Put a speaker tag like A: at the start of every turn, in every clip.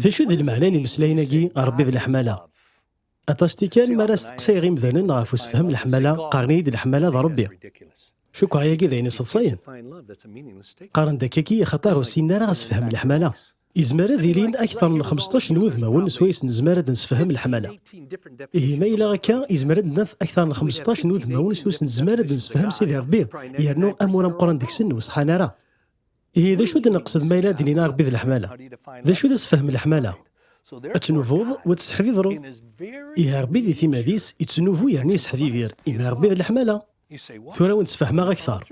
A: D acu i d lmeɛna n imeslayen-agi, Ṛebbi d leḥmala? Aṭas tikkal mi ara steqsayeɣ imdanen ɣef usefhem leḥmala, qqaren-iyi-d leḥmala d Ṛebbi. Cukkeɣ ayagi d ayen iseḍsayen. Qqaren-d akkagi axaṭer ur ssinen ara asefhem leḥmala. Yezmer ad ilin akteṛ n xmesṭac n wudmawen swayes nezmer ad nsefhem leḥmala. Ihi ma yella akka, yezmer ad naf akteṛ n xmesṭac n wudmawen swayes nezmer ad nsefhem Sidi Ṛebbi, yernu amur ameqqran deg-sen ur ṣeḥḥan ara. Ihi d acu d-neqsed ma yella d-nini Rebbi d leḥmala? D acu d asefhem leḥmala? Ad tnuvuḍ u ad tesseḥbibreḍ. Ihi Rebbi di timad-is ittnuvu yerna yesseḥbibir, imi Rebbi d leḥmala. Tura ad wen-d-sfehmeɣ akteṛ.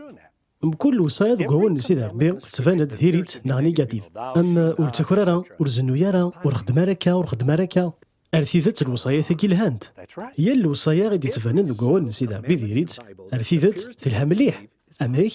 A: Mkul lewṣaya deg wawalen n Sidi Rebbi tettban-d diri-tt neɣ nigatif, am ur ttaker ara, ur zennuy ara, ur xeddem ara akka, ur xeddem ara akka. Ar tidet lewṣayat-agi lhant. Yal lewṣaya i d-ittbanen deg wawalen n Sidi Rebbi diri-tt ar tidet telha mliḥ. Amek?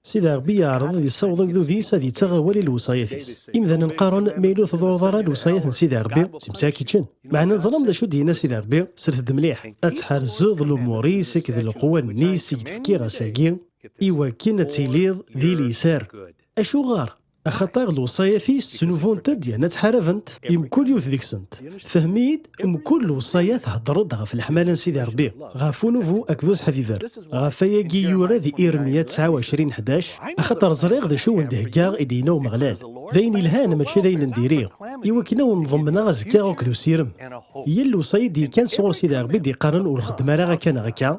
A: Sidi Ṛebbi yeɛreḍ ad yessaweḍ agdud-is ad yettaɣ awal i lewṣayat-is. Imdanen qqaren, ma yella ur tḍurreḍ ara lewṣayat n Sidi Ṛebbi, si msi ad k-ččen. Meɛna teẓram d acu d-yenna Sidi Ṛebbi? Sret-d mliḥ, ad tḥerzeḍ lumuṛ-is akked leqwanen-is i k-d-fkiɣ ass-agi, iwakken ad tiliḍ di liser. Acuɣer? Axaṭer lewṣayat-is ttnubunt-d yerna ttḥarabent i mkul yiwet deg-sent. Fhem-iyi-d, mkul lewṣayat thedder-d ɣef leḥmala n Sidi Ṛebbi, ɣef unubu akked useḥbiber. Ɣef wayagi i yura di Iremya ttɛa u ɛecrin ḥdac, Axaṭer ẓriɣ d acu i wen-d-heggaɣ, i d-yenna Umeɣlal, d ayen yelhan mačči d ayen n diri, i wakken a wen-ḍemneɣ azekka akked usirem. Yal lewṣaya i d-yekkan sɣur Sidi Ṛebbi i d-iqqaren ur xeddem ara akka neɣ akka,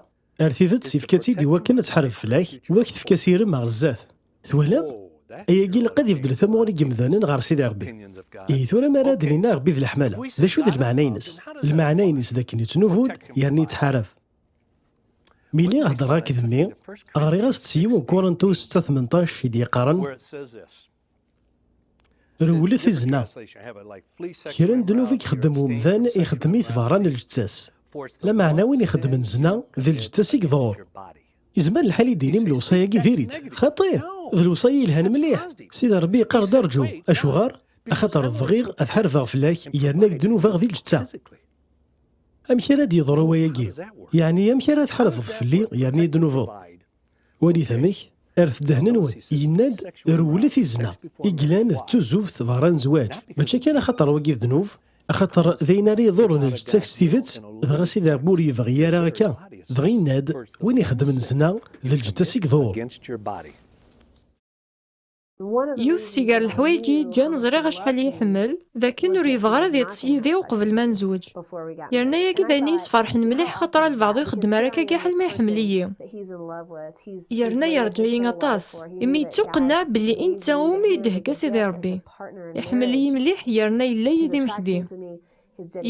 A: Ar tidet, ifka-tt-id iwakken ad tḥareb fell-ak, u ad k-tefk asirem ɣer zdat. Twehlam? Ayagi ilaq ad ibeddel tamuɣli n yemdanen ɣer Sidi Rebbi. Ihi tura mi ara d-nini Arebbi d leḥmala, d acu d lmeɛna-ines? Lmeɛna-ines d akken yettnubud yerna yettḥarab. Mi lliɣ heddreɣ-ak d mmi, ɣriɣ-as-d s yiwen Kurentu setta tmenṭac i d-yeqqaren, Rewlet i zna. Kra n ddnub i ixeddem umdan, ixeddem-it beṛṛa n lǧetta-s. Lameɛna win ixeddmen zna, d lǧetta-s i iḍuṛ. Izmer lḥal i d-tinim lewṣaya-agi diri-tt? Xaṭi! D lewṣaya yelhan mliḥ! Sidi Ṛebbi iqqar-d ṛju. Acuɣeṛ? Axaṭer bɣiɣ ad ḥarbeɣ fell-ak yerna ad k-dnubeɣ di lǧetta. Amek ara d-yeḍṛu wayagi? Yeɛni amek ara tḥarbeḍ fell-i yerna ad yi-dnubeḍ? Walit amek, ar ddehn-nwen, yenna-d, rewlet i zzna, i yellan d tuzuft berra n zzwaǧ, mačči kan axaṭer wagi d ddnub, axaṭer d ayen ara iḍurren lǧetta-k s tidet, dɣa Sidi Rebbi ur yebɣi ara akka, dɣa yenna-d, win ixeddmen zzna, d lǧetta-s i iḍurr.
B: Yiwet si gar leḥwayeǧ i yeǧǧan ẓriɣ acḥal i iḥemmel, d akken ur yebɣi ara ad yeṭṭes yid-i uqbel ma nezweǧ. Yerna yagi d ayen i yesferḥen mliḥ xaṭer a lbeɛḍ ur ixeddem ara akka gaḥal ma iḥemmel-iyi. Yerna yerǧa-yi aṭas, imi yettuqenneɛ belli i netta iwumi i d-ihegga Sidi Ṛebbi. Iḥemmel-iyi mliḥ yerna yella yid-i mekdi.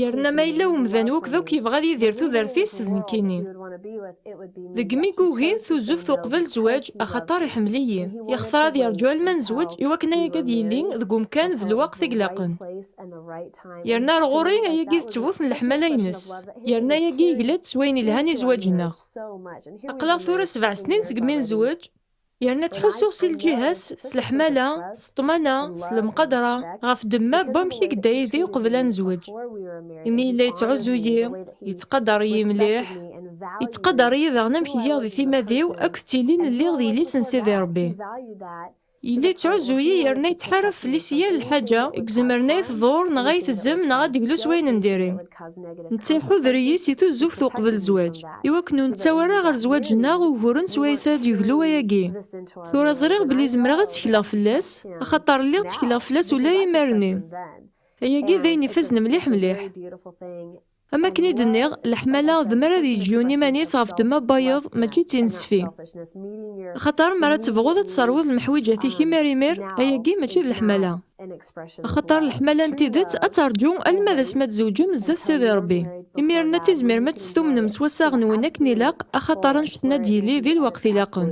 B: Yerna ma yella umdan wukud akk yebɣa ad yidir tudert-is d nekkini. Deg mi yugi tuzuft uqbel zzwaǧ, axaṭer iḥemmel-iyi, yextar ad yerǧu alma nezweǧ i wakken ayagi ad yili deg umkan d lweqt i ilaqen. Yerna ar ɣur-i, ayagi d ttbut n leḥmala-ines. Yerna ayagi yegla-d s wayen ilhan i zzwaǧ-nneɣ. Aql-aɣ tura sebɛa snin segmi nezweǧ. yerna ttḥussuɣ si lǧiha-s s leḥmala, s ṭṭmana, s lemqadra, ɣef ddemma n wamek i yedda yid-i uqbel ad nezweǧ, imi yella yettɛuzzu-yi, yettqadar-iyi mliḥ, yettqadar-iyi daɣen amek giɣ di timad-iw akked tilin lliɣ d yelli-s n Sidi Rebbi, yella yettɛuzzu-yi yerna yettḥarab fell-i si yal lḥaǧa i izemren ad yi-tḍurr neɣ ad yi-tezzem neɣ ad d-teglu s wayen n diri. netta iḥuder-iyi si tuzzuft uqbel zzwaǧ, i wakken ur nettaw ara ɣer zzwaǧ-nneɣ uguren s wayes ara d-yeglu wayagi. Tura ẓriɣ belli zemreɣ ad ttekleɣ fell-as, axaṭer lliɣ ttekleɣ fell-as ula i imar-nni. Ayagi d ayen ifazen mliḥ mliḥ. Am akken i d-nniɣ, leḥmala d mi ara ad yeǧǧ yiwen iman-is ɣef ddemma n wayeḍ, mačči d tinesfi. Axaṭer mi ara tebɣuḍ ad tesserwiḍ lemḥwiǧat-ik imir imir, ayagi mačči d leḥmala. axaṭer leḥmala n tidet ad terǧu alma d asmi ad tzewǧem zdat Sidi Ṛebbi. Imiren ad tizmirem ad testumnem s wassaɣ-nwen akken ilaq, axaṭer annect-en ad d-yili di lweqt ilaqen.